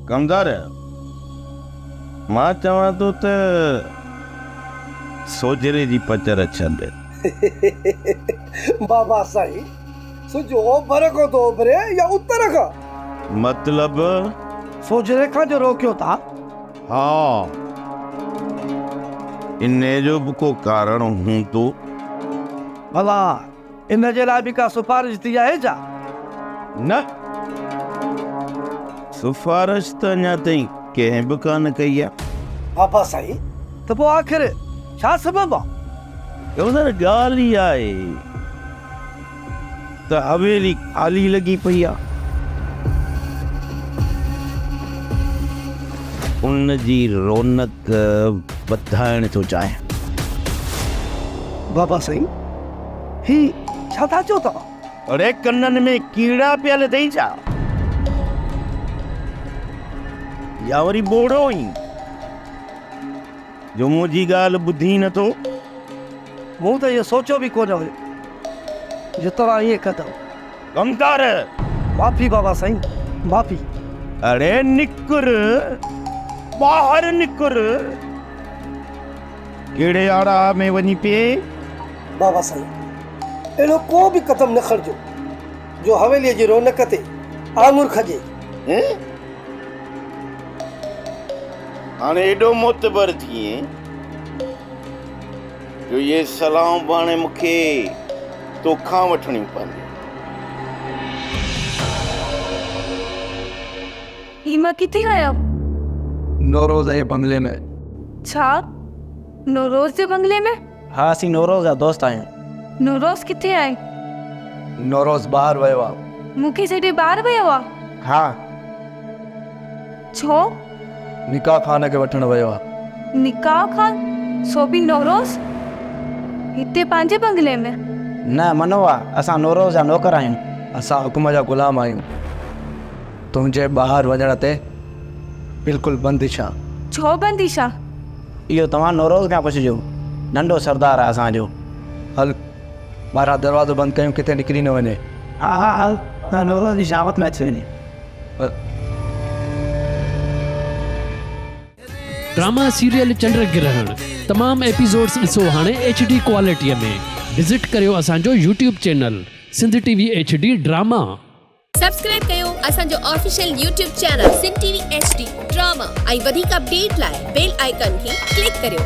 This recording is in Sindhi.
ڪمدار! مان چوان ٿو ته سوجهري جي پچر ڇڏ. بابا سائين! سج اوڀر کان ٿو اڀري يا اتر کان؟ مطلب؟ سوجهري کان جو روڪيو ٿا؟ ها. انهيء جو به ڪو ڪارڻ هوندو. ڀلا ان جي لاء به ڪا سفارش ٿي آهي ڇا؟ نه. سفارش ته اڃا تائين ڪنهن به ڪانه ڪئي آهي. بابا سائين، ته پوء آخر ڇا سبب آهي؟ گورنر، ڳالهه اها آهي ته حويلي خالي لڳي پئي آهي. ان جي رونق وڌائڻ ٿو چاهيان. بابا سائين! هي ڇا ٿا چئو توهان؟ اڙي ڪنن ۾ ڪيڙا پيل اٿئي ڇا؟ يا وري ٻوڙو آهين جو منهنجي ڳالهه ٻڌين نه ٿو؟ مون ته اهو سوچيو به ڪونه هيو جو توهان ائين ڪندؤ. ڪمتار! معافي بابا سائين معافي. اڙي نڪر ٻاهر نڪر. ڪهڙي آڙاء ۾ وڃي پئي؟ بابا سائين اهڙو ڪو به قدم نه کڻجو جو حويليء جي رونق تي آڱر کڄي. هاڻي ايڏو معتبر ٿيين جو اهي صلاحون به هاڻي مون کي تو کان وٺڻيون پونديون. هي مان ڪٿي آيا؟ نوروز جي بنگلي ۾. ڇا؟ نوروز جي بنگلي ۾؟ ها اسين نوروز جا دوست آهيون. نوروز ڪٿي آهي؟ نوروز ٻاهر ويو آهي. مون کي ڇڏي ٻاهر ويو آهي؟ ها. ڇو؟ نڪاح خان کي وٺڻ ويو آهي. نڪاح خان؟ سو به نوروز هتي پنهنجي بنگلي ۾؟ نه منوئا، اسان نوروز جا نوڪر آهيون. اسان حڪم جا غلام آهيون. تنهنجي ٻاهر وڃڻ تي بلڪل بندش آ. ڇو بندش آ؟ اهو توهان نوروز کان پڇجو. ننڍو سردار آ اسان جو. هل ٻاهران دروازو بند ڪيون ڪٿي نڪري نه وڃي. ها ها هل ته نوروز جي شامت ۾ اچي وڃي. هل. ڊراما سيريل چنڊ گرهڻ تمام ايپيسوڊز ڏسو هاڻي ايڇ ڊي ڪوالٽيء ۾ وزٽ ڪريو اسان جو YouTube channel Sindh T V H D drama. Subscribe ڪيو اسان جو official YouTube channel Sindh T V H D drama ۽ وڌيڪ اپڊيٽ لاء بيل آئيڪان کي ڪلڪ ڪريو.